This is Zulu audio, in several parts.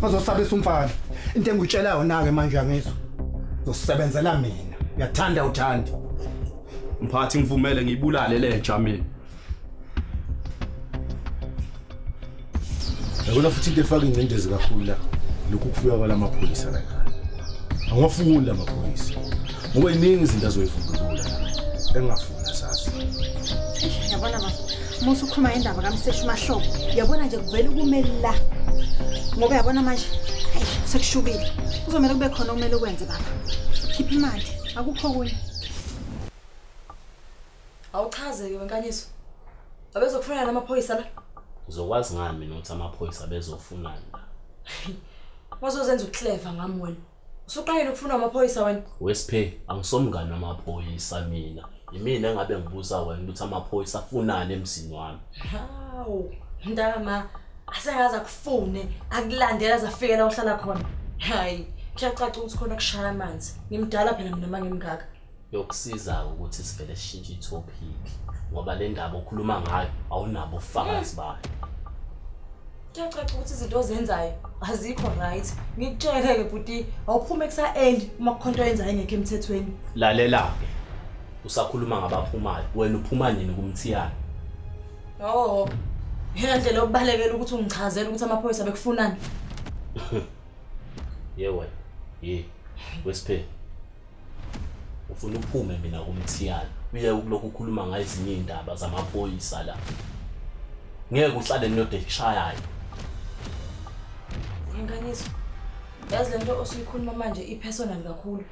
Uzosabisa umfana. Into engikutshela yona ke manje uyangizwa. Uzosebenzela mina. Uyathanda uthandi. Mphathi ngivumele ngiyibulale le Jamini. Yabona futhi into efaka ingcindezi kakhulu la lokhu kufika kwalamaphoyisa la. Awafuni lamaphoyisa. ngoba iningi izinto azoyivundulula engingafuni asazi yabona baba musa ukhuluma ngendaba kamsesha umahlobo yabona nje kuvele ukumeli la ngoba yabona manje hayi sekushubile kuzomele kube khona okumele ukwenze baba khipha imali akukho kunye awuchaze-ke wenkanyiso abezokufunana namaphoyisa la uzokwazi ngami mina ukuthi amaphoyisa bezofunani la wazozenza ucleva ngami wena Usuqalile ukufuna amaphoyisa wena? Wesphe, angisomngane wamaphoyisa mina. Yimina engabe ngibuza wena ukuthi amaphoyisa afunani emzini wami. Hawu, mntama asengaze akufune akulandela aze afike la uhlala khona. Hayi, kuyacaca ukuthi khona kushaya amanzi. Ngimdala phela mina uma ngimngaka. yokusiza ukuthi sivele sishintshe itopic ngoba le ndaba okhuluma ngayo awunabo ufakazi bayo kuyacaca ukuthi izinto ozenzayo azikho right ngikutshele-ke bhuti awuphume kusa-endi uma kukhonto oyenzayo engekho emthethweni lalela-ke usakhuluma ngabaphumayo wena uphuma nini kumthiyana oho yena ndlela yokubalekela ukuthi ungichazele ukuthi amaphoyisa bekufunani ye wena ye wesipheli ufuna uphume mina kumthiyana uye ukulokhu ukhuluma ngezinye iy'ndaba zamaphoyisa la ngeke uhlale ninoda ekushayayo ngenkanyiso yazi le nto osuyikhuluma manje i-personal kakhulu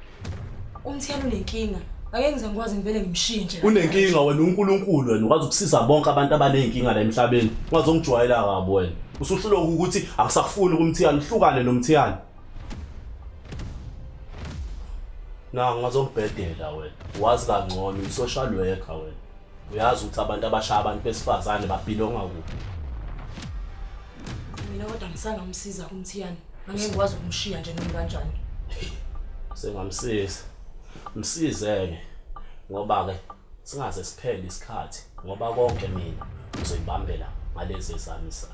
umthiyana unenkinga ake ngize ngikwazi ngivele ngimshintshe unenkinga wena unkulunkulu wena ukwazi ukusiza bonke abantu abaney'nkinga la emhlabeni ungazongijwayela kabi wena usuhluleka ukuthi angisakufuni kumthiyana uhlukane nomthiyana na ngazokubhedela wena wazi kangcono i-social worker wena uyazi ukuthi abantu abashaya abantu besifazane babhilonga kuphi mina kodwa ngisangamsiza kumthiyana angeke ngikwazi ukumshiya nje noma kanjani sengamsiza msize-ke ngoba-ke singaze siphele isikhathi ngoba konke mina uzoyibambela ngalezi zami zami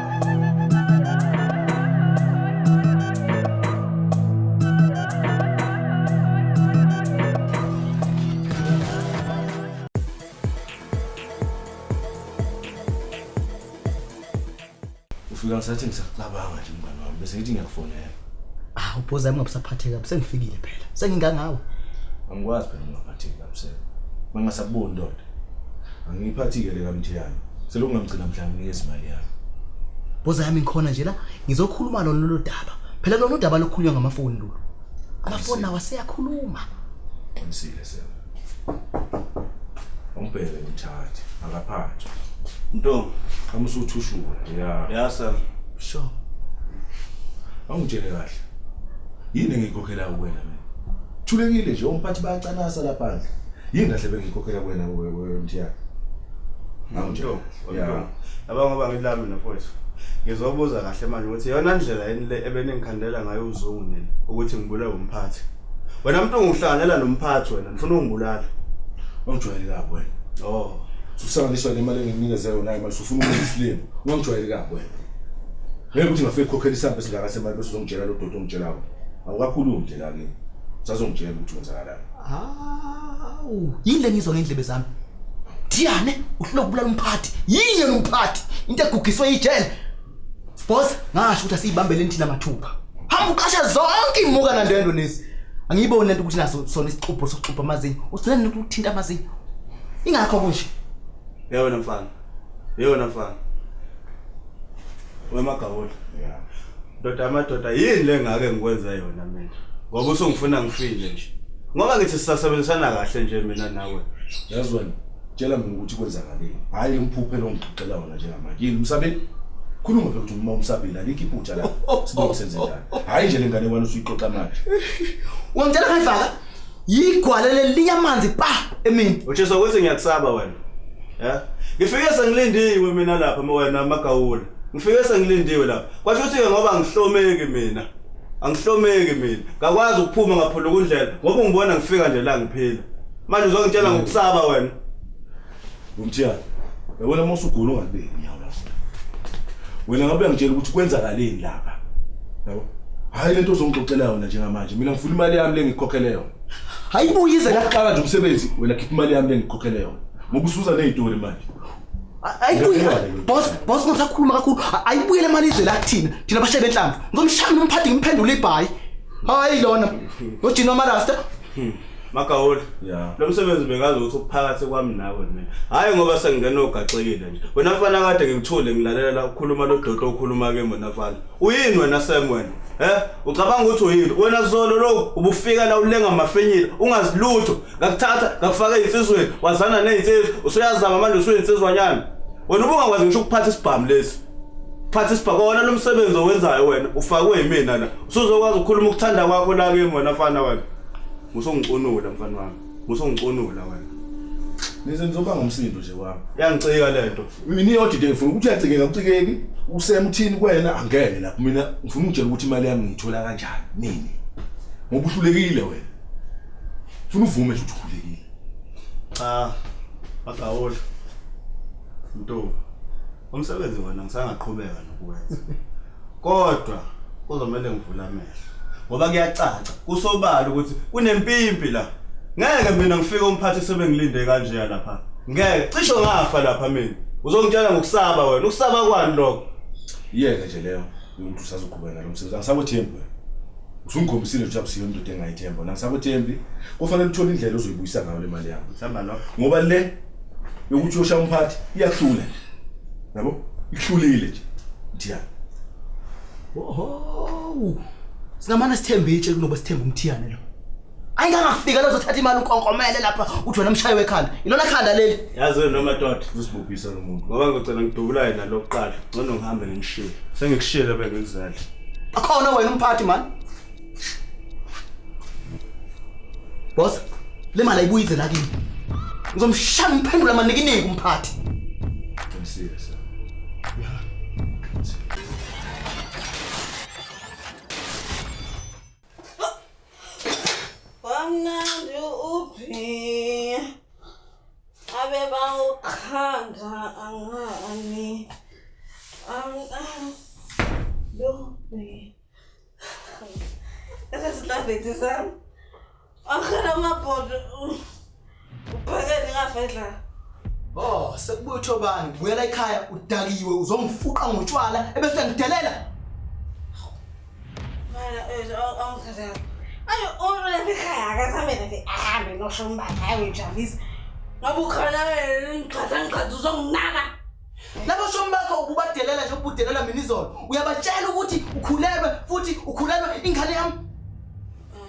ufika ngisathi ngisakucabanga nje mngane wami bese ngithi ngiyakufonela Ah, ubhoza yami ngabusaphatheka kabi sengifikile phela. Sengingangawe. Angikwazi phela ngingaphatheki kabi sena. Mangasakuboni ndoda. Angiyiphathike le kamthiyana. Selokungamgcina mhlawumbe ngiyezi imali yami. Bhoza yami ngikhona nje la ngizokhuluma lona lolu daba. Phela lona udaba lokukhulunywa ngamafoni lolu. Amafoni nawo aseyakhuluma. Qinisile sena. Umbheke ngithathe akaphathwa. Ntombi, kama usuthushuka. Ya. Ya sir. Sure. Awungitshele kahle. Yini engikhokhela kuwena mina? Thulekile nje umphathi bayacanasa lapha phandle. Yini kahle bengikhokhela kuwena wewe mthiya? Ngangitshela. Ya. Yaba ngoba ngilami nofowethu. Ngizobuza kahle manje ukuthi yona ndlela yini le ebeningikhandela ngayo uzungu nini ukuthi ngibulawe umphathi. Wena mntu ungihlanganyela nomphathi wena ngifuna ungibulala. Ongijwayele kabi wena. Oh. Usanganiswa nemali enginikeze yona imali ufuna ukuzifilima. Ungijwayele kabi wena. Ngeke ukuthi ngafike khokhela isamba esingaka semali bese uzongitshela lo doti ongitshelayo. Awukakhulumi nje la kimi. Sazongitshela ukuthi wenzakalani. Hawu, yini lengizwa ngendlebe zami? Thiyane, uhlokubulala umphathi. Yini yena umphathi? Into egugiswe ijele. Boss, ngasho ukuthi asiyibambele nithina mathupha. Hamba uqasha zonke imuka nandwendo lezi. Angiyiboni lento ukuthi naso sona isixubho sokuxubha amazinyo. Usigcina nokuthi uthinta amazinyo. Ingakho kunje. Yebo wena mfana. Yebo wena mfana. Wemagawula. Yeah. Ndoda amadoda yini lengake ngikwenza yona mina? Ngoba usungifuna ngifile nje. Ngoba ngithi sisasebenzisana kahle nje mina nawe. Yazweni. Tshela mina ukuthi kwenzakaleni. Hayi umphuphe lo ngixoxela wona njengamanje. Yini umsabeli? Khuluma phela ukuthi uma umsabeli alikho iphutha la. Sibonge senze njani. Hayi nje lengane walo usuyixoxa manje. Wangitshela ngayifaka. Yigwala leli yamanzi pa emini. Ujesu ukuthi ngiyakusaba wena. Yeah. Ngifike sengilindiwe mina lapha wena magawula. Ngifike sengilindiwe lapha. Kwasho ukuthi ke ngoba ngihlomeki mina. Angihlomeki mina. Ngakwazi ukuphuma ngaphula ukundlela ngoba ungibona ngifika nje la ngiphila. Manje uzongitshela ngokusaba wena. Ngimthiya. Yabona uma usugula ungabeki nyawo lapho. Wena ngabe uyangitshela ukuthi kwenzakaleni lapha. Yabo? Hayi lento ozongixoxela yona njengamanje. Mina ngifuna imali yami lengikhokhele yona. Hayi buyize la. Qala nje umsebenzi wena khipha imali yami lengikhokhele yona. Ngoba usuza nezitori manje. ayibuye boss boss ngisakhuluma kakhulu A- ayibuyele imali izwe la kuthina thina bashebe enhlamvu ngomshana umphathi ngimphendule ibhayi hayi lona ngojini wamarasta Magawula. Yeah. Lo msebenzi bengazi ukuthi uphakathi kwami nawe mina. Hayi ngoba sengingena ogaxekile nje. Wena mfana kade ngikuthule ngilalela ukukhuluma lododo okhuluma ke mina mfana. Uyini wena Sam wena? Eh? Ucabanga ukuthi uyini? Wena zolo lo ubufika la ulenga amafenyile ungazilutho. Ngakuthatha ngakufaka insizweni wazana nezinsizwa usuyazama manje usuyinsizwanyana. Wena ubungakwazi ngisho ukuphatha isibhamu lesi. Phathi sibhakona lomsebenzi owenzayo wena ufakwe yimina la. Usuzokwazi ukukhuluma ukuthanda kwakho la kimi wena mfana wena. Musongicunula mfana wami. Musongicunula wena. Nize nizoba ngomsindo nje wami. Yangicika lento. Mina iyodwa into engifuna ukuthi uyacikeka ucikeki usemthini kwena angene lapho mina ngifuna ungitshela ukuthi imali yami ngiyithola kanjani nini. Ngoba uhlulekile wena. Funa uvume nje ukuthi uhlulekile. Cha. Akawona. Ntombi. Umsebenzi wena ngisangaqhubeka nokuwenza. Kodwa kuzomele ngivule amehlo ngoba kuyacaca kusobala ukuthi kunempimpi la. Ngeke mina ngifike umphathi sebengilinde kanje lapha. Ngeke cisho ngafa lapha mina. Uzongitshela ngokusaba wena. Ukusaba kwani lokho? Yeke nje leyo. Umuntu usazoqhubeka nalo msebenzi. Angisakwethembi wena. Usungikhombisile ukuthi akusiyo indoda engayithemba. Wena angisakwethembi. Kufanele uthole indlela ozoyibuyisa ngayo le mali yami. Sihamba lo. Ngoba le yokuthi uyosha umphathi iyahlula nje. Yabo? Ihlulile nje. Mthiyane. Oho. Singamane sithembe itshe kunoba sithembe umthiyane lo. ayingangafika lozothatha imali unkonkomele lapha uthi wena mshayi wekhanda ilona khanda leli yazi wena noma dot uzibhubhisa lo muntu ngoba ngicela ngidubula yena lokuqala ngcono ngihambe ngimshile sengikushile bengikuzale akhona wena umphathi mani boss le mali ayibuyize la kimi ngizomshaya ngiphendula manikiniki umphathi Wamnandi uphi abebawukhanda angani amnandi uphi. Esa es la petición. Akhona amabhodo. Uphakele ngafedla. Oh, sekubuya uthobani, buyela ekhaya udakiwe uzongifuqa ngotshwala ebese ngidelela. Mara, eh, awukhathele. Ayo, ulule ekhaya akasamele nje ahambe nosho umbani ayojabulisa. Ngabe ukhona wena ngigxatha ngigxatha uzonginaka. Labo shomi bakho ububadelela nje ubudelela mina izolo. Uyabatshela ukuthi ukhulelwe futhi ukhulelwe ingane yami.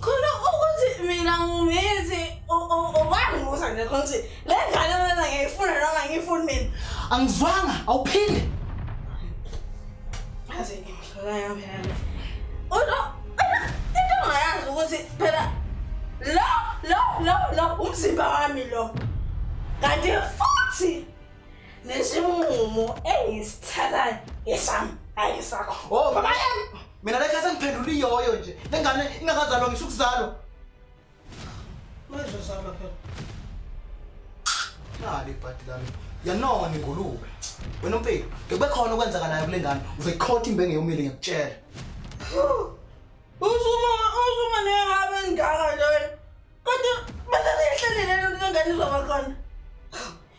khona ukuthi mina ngithi owangibuza nje khona ukuthi le ngane wena ngiyifuna noma ngiyifuni mina angizwanga awuphinde aze ngimhlola yami yami uno into ongayazi ukuthi phela lo lo lo lo umzimba wami lo kanti futhi nesinqumo engisithathayo esami ayisakho oh baba yami Mina lekhe sengiphendula iyoyo nje. Lengane ingakazalwa ngisho ukuzalwa. Mayizozalwa phela. Nali ibhadi lami. Yanona ingulube. Wena umpilo, ngeke khona okwenzakalayo kule ngane. Uzoyikhotha imbenge yomile ngiyakutshela. Uzuma uzuma nengabe ngaka nje. Kodwa bese lihlelele lento ngane izoba khona.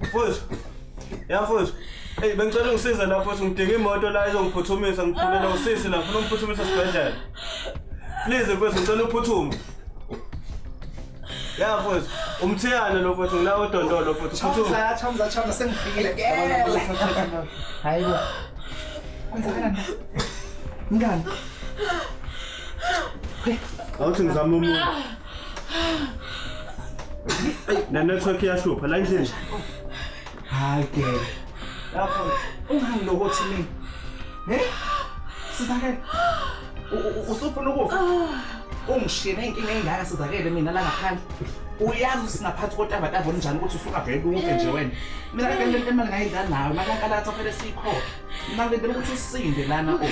Mfowethu. Ya mfowethu. Hey bengicela ungisize la mfowethu ngidinga imoto la izongiphuthumisa ngiphulela usisi la ngifuna umphuthumisa esibhedlela. Please mfowethu ngicela uphuthume. Ya mfowethu umthiyane lo mfowethu nginawo dondolo mfowethu Chamza, phuthume. chamza, chamza, sengifikile. Ngeke. Hayi bo. Kwenzakalani? Mngani. Awuthi ngizama umuntu. Ay, nenetwork iyahlupha la indlini. Hayi ke. Lapho ungani lokuthi mina. He? Sizakele. Usufuna ukufa? Ungishiye nenkinga engaka sizakele mina la ngaphandle. Uyazi usingaphathi kotaba tavo njani ukuthi usuka vele ufe nje wena. Mina ke le mali ngayidla nayo, makankala athophele sikhokhe. Mina ngidela ukuthi usinde lana o.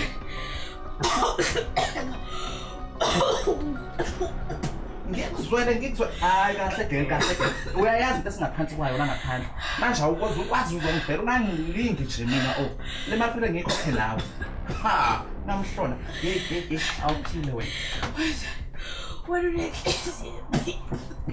ngikuzwele ngikuzwe hayi kahle girl kahle girl. uyayazi into esingaphansi kwayo langaphandle manje awukwazi ukwazi uzongibhela ungangilingi nje mina o le mali phela ngiyikhokhe nawe ha namhlona yeyi yeyi yeyi awuthile wena What did I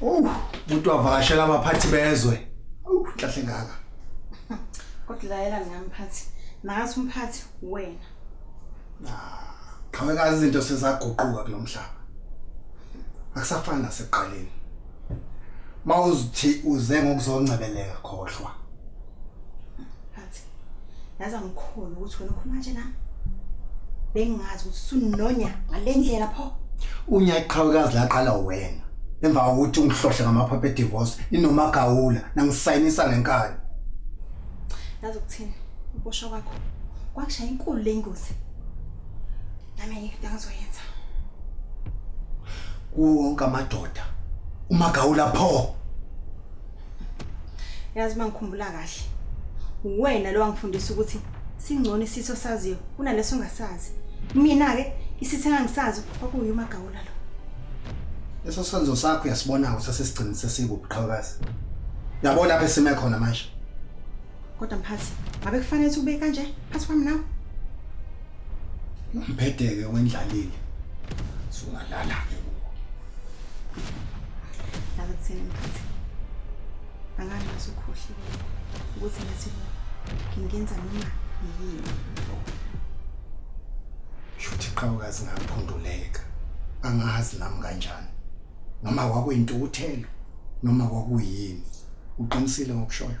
umuntu wavakashela abaphathi bezwe kahle ngaka kodwa layela ngiyamphathi nakathi umphathi wena ah, qhawekazi izinto sezaguquka kulo mhlaba akusafani nasekuqaleni mawuzithi uze ngokuzongcebeleka khohlwa yazi angikhona ukuthi wena ukhuluma kanje na bengingazi ukuthi sunonya ngale ndlela pho unyaqhawekazi laqala wena emva kokuthi ungihlohle ngamaphapha edivorce ninomagawula nangisayinisa ngenkani yazi ukuthini ukusho kwakho kwakushaya inkulu le ngozi nami ayikho into angizoyenza kuwo wonke amadoda umagawula pho yazi uma ngikhumbula kahle uwena lo wangifundisa ukuthi singcono isiso saziyo kunaleso ungasazi mina-ke isithi engangisazi kwakuye umagawula lo leso senzo sakho uyasibona-ke usasesigcini sesikubuqhawekazi yabo lapho esime khona manje Kodwa mphathi, ngabe kufanele ukuthi ube kanje phansi kwami nawe? Umphethe-ke wendlalile. Sungalala-ke kuwo. Yazi kuthini mphathi? Angani ngathi ukhohliwe ukuthi ngathi ngingenza noma yini. Shuthi qhawukazi ngaphunduleka. Angazi nami kanjani. Noma kwakuyintukuthelo noma kwakuyini. Uqinisile ngokushoyo.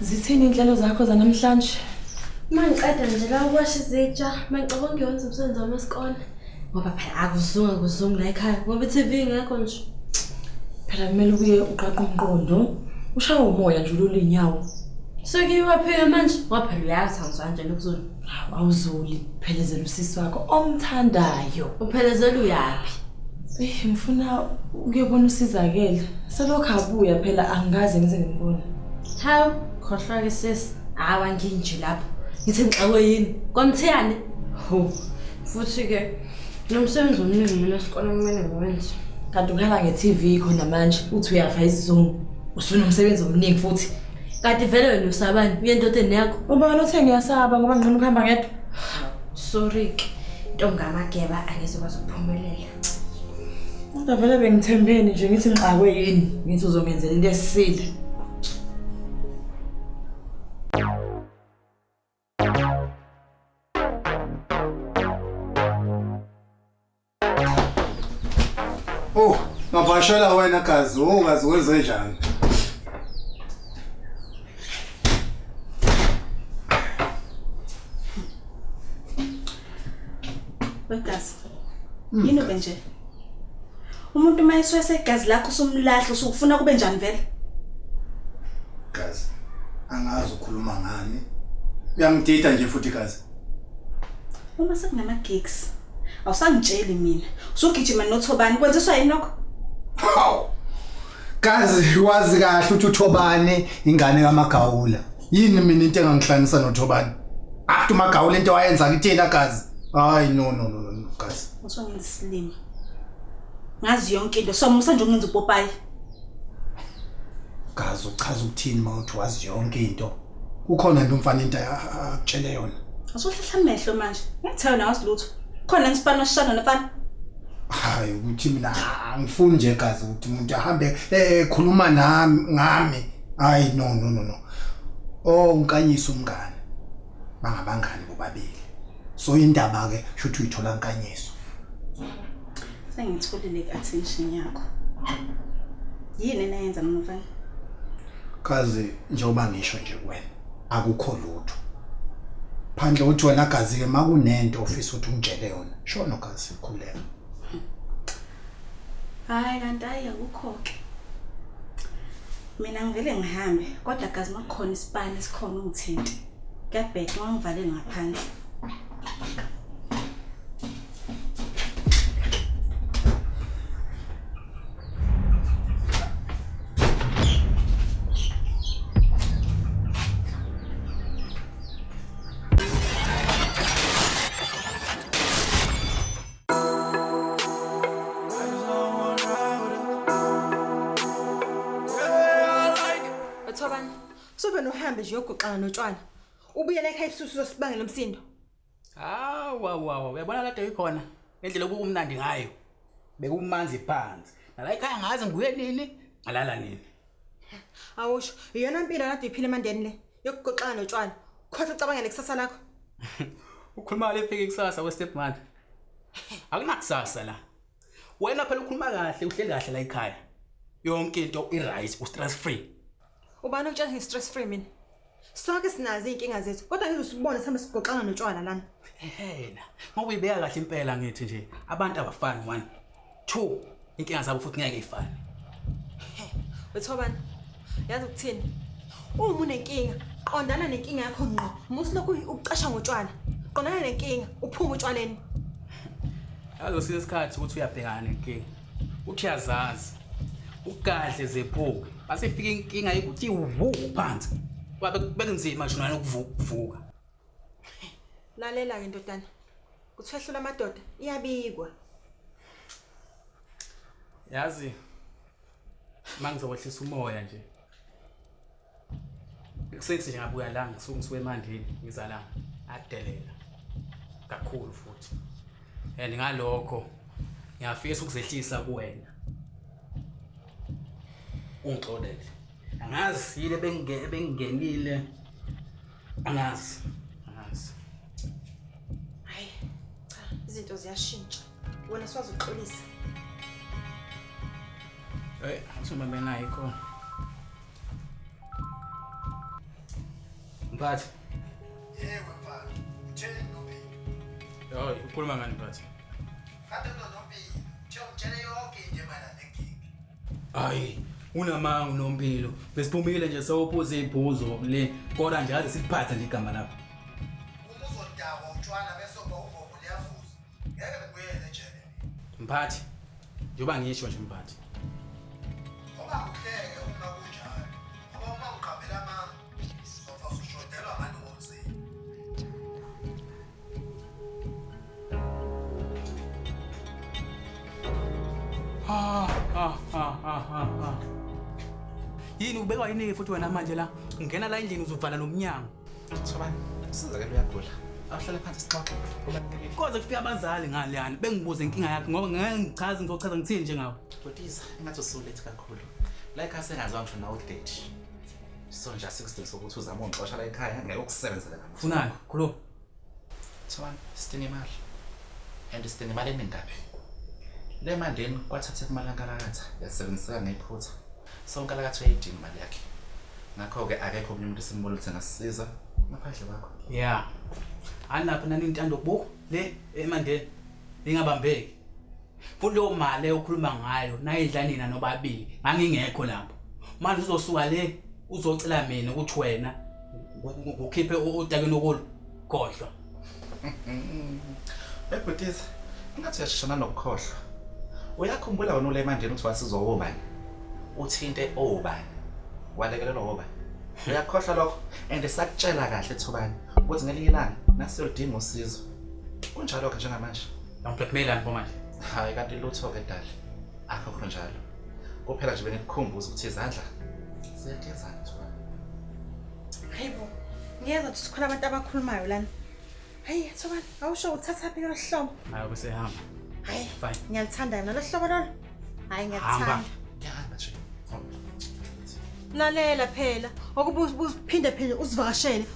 Zithini inhlelo zakho zanamhlanje? Mangiqeda nje la ukwasha izitsha, mangicabanga ukuyonza umsebenzi wami wesikole. Ngoba phela akuzunge kuzungu la ekhaya ngoba i-TV ingekho nje. Phela kumele ubuye uqaqa umqondo, ushawe umoya nje ulule iy'nyawo. Sekuyiwa phela manje ngoba phela uyazi angizwani nje nokuzona. Hawu awuzoli phelezela usisi wakho omthandayo. Uphelezela uyaphi? Eh ngifuna ukuyobona usizakele. Selokhu abuya phela angikaze ngize ngimbone. Hawu khohlwa ke sisi. Hawu anginje lapho. Ngithe ngixakwe yini? Kwamthiyane? Ho. Futhi ke lo msebenzi omningi mina sikole kumele ngiwenze. Kanti ukhala nge-TV khona manje uthi uyafa isizungu. Usunomsebenzi omningi futhi. Kanti vele wena usabani? Uye endodeni yakho? Ubani othe ngiyasaba ngoba ngicela ukuhamba ngedwa? Sorry ke. Ntongamageba angizokwazi ukuphumelela. Kodwa vele bengithembeni nje ngithi ngixakwe yini? Ngithi uzongenzela into esile. Oh, mabashela wena kazi, oh kazi wenze njani? Wegazi. Hmm. Yini ube nje? Umuntu uma eswese igazi lakho usumlahla usukufuna kube njani vele? Gazi. Angazi ukhuluma ngani. Uyangidida nje futhi gazi. Uma sekunama gigs. Awusangitsheli mina. Usugijima nothobani kwenziswa yini lokho? Hawu. Kazi wazi kahle ukuthi uThobani ingane kaMagawula. Yini mina into engangihlanisa noThobani? After uMagawula into wayenza kithina kazi. Hayi no no no no kazi. Usongenza isilima. Ngazi yonke into. So musa nje ukungenza upopayi. Kazi uchaza ukuthini mawuthi wazi yonke into. kukhona into umfana into akutshele yona asohlahla amehlo manje ngithayo nawe silutho khona ngisipana sishana nofana hayi ukuthi mina angifuni nje gazi ukuthi umuntu ahambe eh, eh, ekhuluma nami ngami hayi no no no no oh unkanyisa umngane bangabangani bobabili so indaba ke shuthi uyithola nkanyiso Sengitholile i-attention yakho. Yini enayenza mina mfana? Kazi njengoba ngisho nje kuwena akukho lutho. Phandle uthi wena gazi ke makunento ofisa ukuthi ungitshele yona. Shono gazi khuleka. Hayi kanti hayi akukho ke. Mina ngivele ngihambe kodwa gazi makukhona isipani esikhona ungithinte. Kuyabheda wangivalele ngaphandle. Sovele uhambe nje uyoguxana notshwala. Ubuyele ekhaya ibususu uzosibangela umsindo. Hawu wawu wawu uyabona lento ikhona ngendlela okumnandi ngayo. Bekumanzi phansi. Nala ekhaya ngazi ngibuye nini ngalala nini. Awusho iyona impilo kade iphila emandeni le yokuguxana notshwala. Khotha ucabangele kusasa lakho. Ukhuluma lephike kusasa we step mother. Akunakusasa la. Wena phela ukhuluma kahle uhleli kahle la ekhaya. Yonke into i right u stress free. Ubani utshela ngi stress free mina? Sonke sinazo izinkinga zethu kodwa ngeke usibone sihambe sigoxana notshwala lana. Ehena, ngoba uyibeka kahle impela ngithi nje abantu abafani one. Two, inkinga zabo futhi ngeke ifane. Wethobani? Yazi ukuthini? Uma unenkinga, qondana nenkinga yakho ngqo. Musi lokhu ucasha ngotshwala. Qondana nenkinga, uphuma utshwaleni. Yazi usize isikhathi ukuthi uyabhekana nenkinga. uthi yazazi ugadle zephuke basefika inkinga yokuthi uvuke phansi ngoba bekunzima ngisho nani ukuvuka lalela-ke ndodana kuthwehlula amadoda iyabikwa yazi uma ngizokwehlisa umoya nje Kusethi nje ngabuya la ngisuke ngisuke emandini ngiza la adelela kakhulu futhi and ngalokho ngiyafisa ukuzehlisa kuwena ungixolele angazi yile bengingenile angazi angazi hayi cha izinto ziyashintsha wena siwazi uxolisa hey uthi mama nayo ikhona Mphathi. Yebo mphathi. Utheni noBheki? Hayi, ukhuluma ngani mphathi? Kade unoNompilo. Uthe umtshele yonke into emayelana nenkinga. Hayi, unamanga uNompilo. Besiphumile nje sewubuza izibuzo le. Kodwa nje aze siliphathe nje igama lakho. Mphathi, njengoba ngisho nje mphathi. Ngoba kuhleke uma kunjalo. Ngoba uma uqaphela amanga, ngoba ushodelwa ngalo womzini. Ha ha ha ha ha ha. Yini ubekwa yini futhi wena manje la? Ungena la endlini uzovala nomnyango. Thobani, sizakele uyagula. Awuhlale phansi sixoxe. Kubalulekile. Kodwa kufika abazali ngaleyana bengibuze inkinga yakhe ngoba ngeke ngichaze ngizochaza ngithini njengawe. Bhutiza, engathi usulethe kakhulu. La ekhaya sengaziwa ngisho nawe udate. So nje asikudingi sokuthi uzame ungixosha la ekhaya ngeke ukusebenzele kakhulu. Funani, khuluma. Themani, sidinga imali and sidinga imali eningi kabi. Le mandeni kwathatha imali yankalakatha yasebenziseka ngephutha. So unkalakatha uyayidinga imali yakhe. Ngakho-ke akekho omunye umuntu esimbona ukuthi angasisiza ngaphandle kwakho. Yeah. Anakho nanintando bo le emandeni. Ningabambeki. Futhi leyo mali okhuluma ngayo nayidla nina nobabili ngangingekho lapho. Manje uzosuka le uzocela mina ukuthi wena ukhiphe utakeni okulo khohlwa. Ebhutisa ingathi uyashishana nokukhohlwa. Uyakhumbula wena ule manje ukuthi wasizo wobani? Uthinte obani? Walekelelwa wobani? Uyakhohlwa lokho and sakutshela kahle thubani ukuthi ngelinye ilanga nasiyodinga usizo. Kunjalo ke njengamanje. Ngiyakuphethumela nje manje. Hayi kanti lutho ke dali. Akho njalo. Kuphela nje bengikukhumbuza ukuthi izandla ziyagezana nje. Hayibo. Ngiyeza ukuthi sikhona abantu abakhulumayo lana. Hayi, Thobani, awusho uthatha phi lo hlobo? Hayi bese hamba. Hayi. Fine. Ngiyalithanda nalo hlobo lolo. Hayi ngiyakuthanda. Ngiyahamba nje. Lalela phela. Okubuza uphinde phinde usivakashele